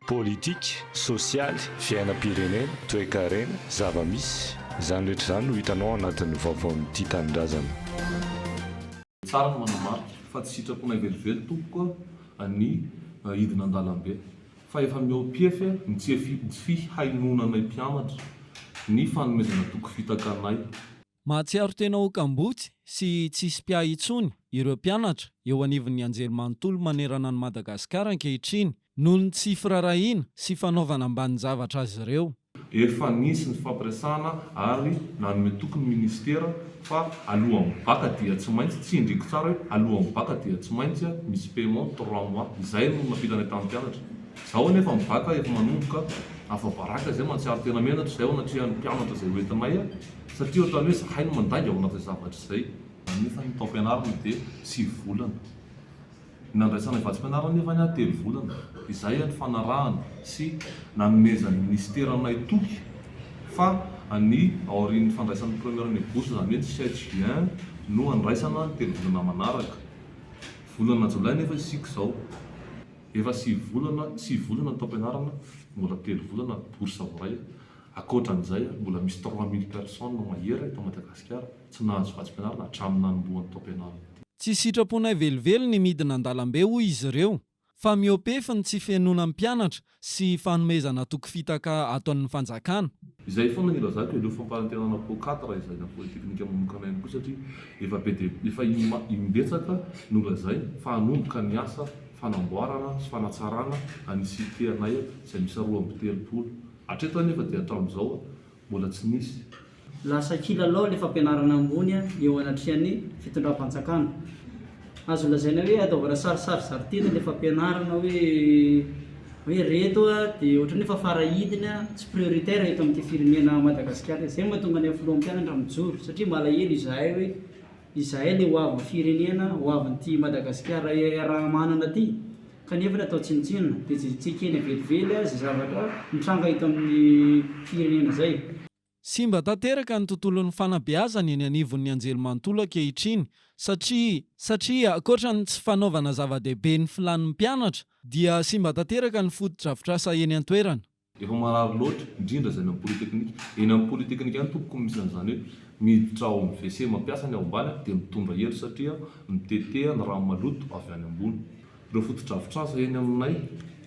Politika, sosialy, fiainam-pirenena, toekarena, zava-misy, izany rehetra izany no hitanao ao anatin'ny vaovaon'ity tanindrazana. Tsara ny manamarika fa tsy sitraponay velively tompoko a ny hidina an-dalambe fa efa mihoapiefy a ny tsy fihainoananay mpianatra ny fanomezana toky fitaka anay. Mahatsiaro tena ho kamboty sy tsisy mpiahy intsony ireo mpianatra eo anivon'ny anjerimanontolo manerana an'i Madagasikara ankehitriny noho ny tsy firaharahiana sy fanaovana ambanin-javatra azy ireo. Efa nisy ny fampiresahana ary nanome toky ny minisitera fa alohan'ny bacc dia tsy maintsy, tsindriko tsara hoe alohan'ny bacc dia tsy maintsy misy paiement trois mois, izay no nampitany hatramin'ny mpianatra. Izao anefa ny bacc efa manomboka, afa-baraka izay, mahatsiaro tena menatra izay ao anatrehan'ny mpianatra izay hoentinay. Satria ohatran'ny hoe zahay no mandainga ao anatin'izay zavatra izay. Nefa ny taom-pianarana dia sivy volana. Ny nandraisanay vatsim-pianarana nefa ny ahy telo volana. Izay ny fanarahana sy nanomezan'ny minisitera anay toky fa ny aorian'ny fandraisan'ny première année bourse, izany hoe ny sept juin, no handraisana ny telo volana manaraka. Volana jolay nefa isika izao. Efa sivy volana, sivy volana ny taom-pianarana, mbola telo volana ary bourse vao iray. Ankoatran'izay, mbola misy trois mille personnes mahery eto Madagasikara tsy nahazo vatsim-pianarana hatramin'ny nanombohan'ny taom-pianarana ity. Tsy sitraponay velively ny midina an-dalambe hoy izy ireo, fa miopefy ny tsy fihenoana ny mpianatra sy fanomezana toky fitaka ataon'ny fanjakana. Izay foana ny ilazako, aleo fampanantenana po quatre izay na polytechnique manokana ihany koa satria efa be dia efa im-betsaka no lazaina fa hanomboka ny asa fanamboarana sy fanatsarana an'i Cité anay izay miisa roa amby telopolo Hatreto anefa dia hatramin'izao mbola tsy nisy. Lasa kilalao ilay fampianarana ambony eo anatrehan'ny fitondram-panjakana. Azo lazaina hoe ataovana sarisary zari-teny ilay fampianarana hoe hoe reto dia ohatran'ny efa fara idiny, tsy prioritaire eto amin'ity firenena Madagasikara ity. Izay no mahatonga ny filoham-pianatra mijoro satria malahelo izahay hoe. Izahay le hoavin'ny firenena, hoavin'ity Madagasikara iaraha-manana ity, kanefa le atao tsinontsinona, dia tsy ekena velively izay zavatra nitranga eto amin'ny firenena izay. Simba tanteraka ny tontolon'ny fanabeazana eny anivon'ny anjelimanontolo ankehitriny, satria. Satria ankoatra ny tsy fanaovana zava-dehibe ny filàn'ny mpianatra, dia simba tanteraka ny fotodrafitrasa eny an-toerana. Efa marary loatra, indrindra izay any amin'ny polytechnique. Eny amin'ny polytechnique any tompoko no misy an'izany hoe miditra ao amin'ny WC mampiasa ny ao ambany aho dia mitondra elo satria aho miteteha ny rano maloto avy any ambony. Ireo fotodrafitrasa eny aminay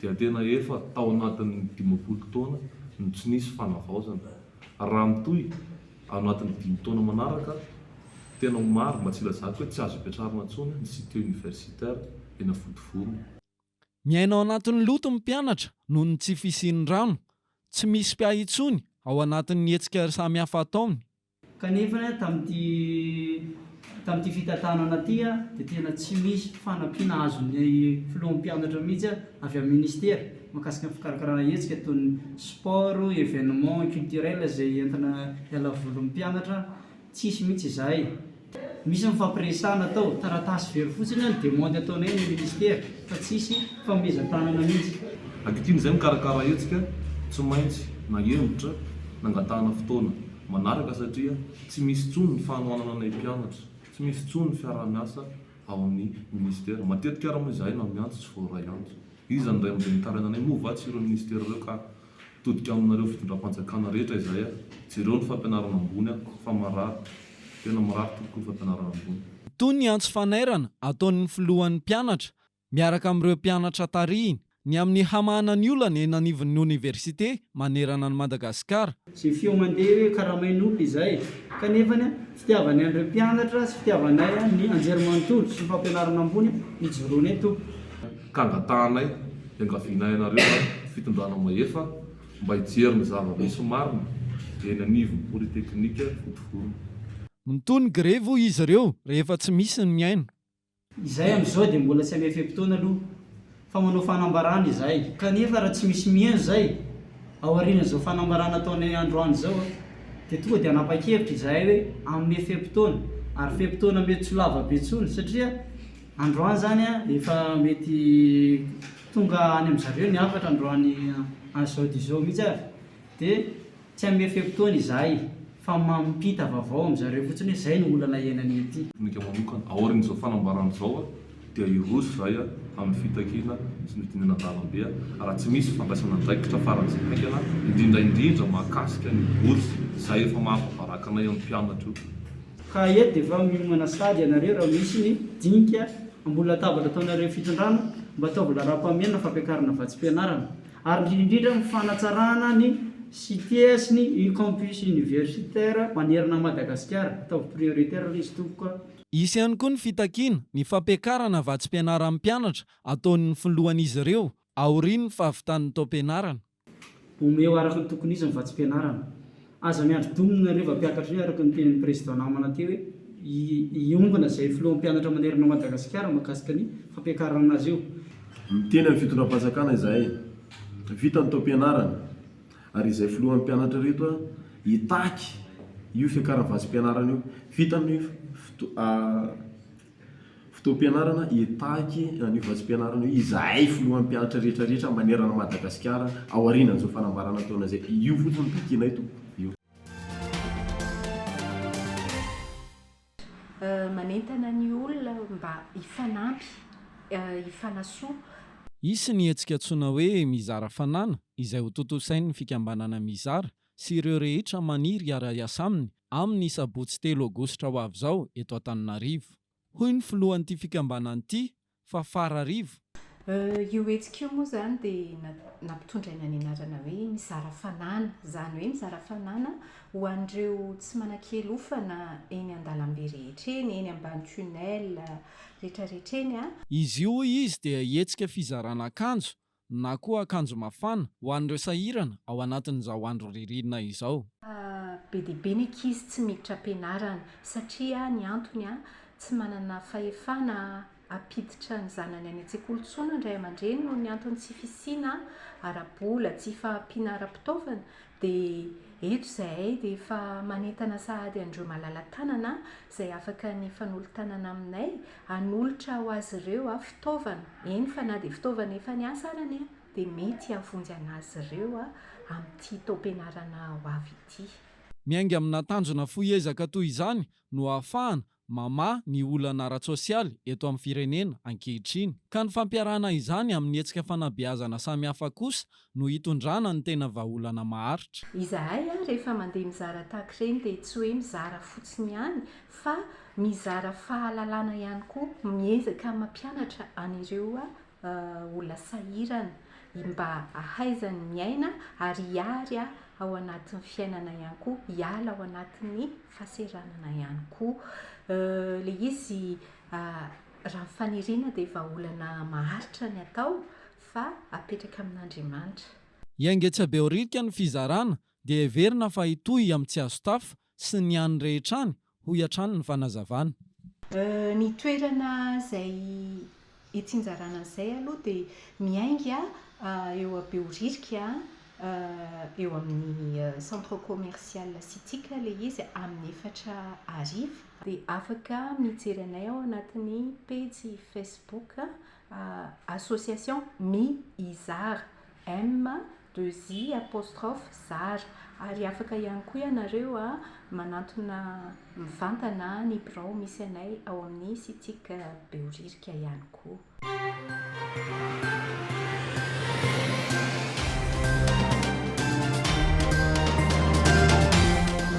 dia tena efa tao anatin'ny dimampolo taona no tsy nisy fanavaozana. Raha mitohy ao anatin'ny dimy taona manaraka, tena ho maro, mba tsy hilazako hoe tsy azo ipetrarana intsony, ny cité universitaire eny Anfotovorona. Miaina ao anatin'ny loto ny mpianatra noho ny tsy fisian'ny rano. Tsy misy mpiahy intsony ao anatin'ny hetsika samihafa ataony. Kanefa, tamin'ity tamin'ity fitantanana ity dia tena tsy misy fanampiana azon'ny filohan'ny mpianatra mihitsy avy amin'ny minisitera mahakasika ny fikarakarana hetsika toy ny sport, evenement culturel izay entina hialavolin'ny mpianatra. Tsisy mihitsy izay. Misy ny fampiresahana atao, taratasy very fotsiny ny demande ataonay amin'ny ministera fa tsisy fanomezan-tanana mihitsy. Ankehitriny izay mikarakara hetsika tsy maintsy nahemotra nangatahana fotoana manaraka satria tsy misy intsony ny fanohanana anay mpianatra, tsy misy intsony ny fiaraha-miasa ao amin'ny ministera. Matetika ary moa izahay na miantso tsy voaray antso. Iza no iray amin'ireo mitaraina anay moa va tsy ireo ministera ireo ka? Todika aminareo fitondram-panjakana rehetra izay a! Jereo ny fampianarana ambony a! Fa marary! Tena marary tompoko io fampianarana ambony. Toy ny antso fanairana ataon'ny filohan'ny mpianatra miaraka amin'ireo mpianatra tarihiny ny amin'ny hamahana ny olana eny anivon'ny oniversite manerana an'i Madagasikara. Jefio mandeha hoe karamain'omby izay kanefa fitiavanay an'ireo mpianatra sy fitiavanay ny anjerimanontolo sy ny fampianarana ambony ijoroanay tompoko. ka angatahanay hiangaviana ianareo ary fitondrana mahefa mba hijery ny zava-misy marina eny anivon'ny polytechnique Vontovorona. Mitohy ny grevy hoy izy ireo rehefa tsy misy ny mihaino. Izay amin'izao dia mbola tsy amin'ny fe-potoana aloha fa manao fanambarana izahay. Kanefa raha tsy misy mihaino izay aorian'izao fanambarana ataonay androany izao dia tonga dia hanapa-kevitra izahay hoe hanome fe-potoana ary fe-potoana mety tsy ho lava be intsony satria Androany zany efa mety tonga any amin zareo ny hafatra androany any zao dia zao mihitsy ary dia tsy hanome fe-potoana izahay fa mampita vavao amin zareo fotsiny hoe zay no olana iainanay aty. Aminay manokana, aorian izao fanambarana izao dia hiroso izahay amin fitakiana sy ny fidinana an-dalambe raha tsy misy fandraisana andraikitra faran izay haingana indrindra indrindra mahakasika ny bourse izay efa maha mpabaraka anay amin mpianatra io. Ka eto dia efa miomana sahady ianareo raha misy ny dinika ambony latabatra ataonareo fitondrana mba ataovy laharam-pahamehana fampiakarana vatsim-pianarana ary indrindra indrindra ny fanatsarana ny cite sy ny campus universitaire manerana an'i Madagasikara ataovy prioritaire ilay izy tompoko a. Hisy ihany koa ny fitakiana ny fampiakarana vatsim-pianaran'ny mpianatra ataon'ny filohan'izy ireo aorian'ny fahavitan'ny taom-pianarana. Omeo araka ny tokony izy ny vatsim-pianarana. Aza miandry domina ireo vampiakatra ireo araka ny tenin'ny prezida namana teo hoe hiombona izay filoham pianatra manerana an'i Madagasikara mahakasika ny fampiakarana azy io. Miteny amin'ny fitondram-panjakana izahay vita ny taom-pianarana ary izay filoham pianatra ireto hitaky io fiakaram-vatsim-pianarana io vita ny Fotoam-pianarana Hitaky an'io vatsim-pianarana io izahay filohan'ny mpianatra rehetra rehetra manerana an'i Madagasikara aorianan'izao fanambarana taona izay. Io fotsiny no takianay to. Io. Manentana ny olona mba hifanampy, hifanasoa. Hisy ny hetsika antsoina hoe Mizara Fanana izay hotontosain'ny fikambanana Mizara sy ireo rehetra maniry hiara-hiasa aminy amin'ny sabotsy telo aogositra ho avy izao eto Antananarivo. Hoy ny filohan'ity fikambanana ity, Fafara Rivo. Io hetsika io moa izany dia nampitondraina ny anarana hoe Mizara fanana, izany hoe mizara fanana ho an'ireo tsy manan-kialofana eny an-dalambe rehetra eny, eny ambany tunnel rehetrarehetra eny. Izy io, hoy izy, dia hetsika fizarana akanjo na koa akanjo mafana ho an'ireo sahirana ao anatin'izao andro ririnina izao. Be dia be ny ankizy tsy miditra am-pianarana satria ny antony, tsy manana fahefana hampiditra ny zanany any an-tsekoly intsony ny ray aman-dreny noho ny antony tsy fisiana ara-bola, tsy fahampiana ara-pitaovana Dia eto izahay dia efa manentana sahady an'ireo malala-tanana izay afaka ny hifanolo-tanana aminay hanolotra ho azy ireo fitaovana, eny fa na dia fitaovana efa niasa arany e! dia mety hihavonjy an'azy ireo amin'ity taom-pianarana ho avy ity. Miainga amina tanjona fohy ezaka toy izany no ahafahana mamaha ny olana ara-tsosialy eto amin'ny firenena ankehitriny, ka ny fampiarahana izany amin'ny hetsika fanabeazana samihafa kosa no hitondrana ny tena vahaolana maharitra. Izahay ary rehefa mandeha mizara tahaka ireny dia tsy hoe mizara fotsiny ihany fa mizara fahalalana ihany koa, miezaka mampianatra an'ireo olona sahirana mba hahaizany miaina ary hiary ao anatin'ny fiainana ihany koa, hiala ao anatin'ny fahasahiranana ihany koa. Ilay izy raha ny faniriana dia vahaolana maharitra ny atao fa apetraka amin'Andriamanitra. I Engetsabehoririka ny fizarana dia heverina fa hitohy amin'ny Tsiazotafa sy ny any rehetra any, hoy hatrany ny fanazavana. Ny toerana izay itsinjarana an'izay aloha dia miainga eo Behoririka, eo amin'ny Centre Commercial Citique ilay izy amin'ny efatra hariva. Dia afaka mijery anay ao anatin'ny pejy Facebook Association mi izara, M deux I apostrophe zara, ary afaka ihany koa ianareo manantona mivantana ny birao misy anay ao amin'ny Sitic Behoririka ihany koa.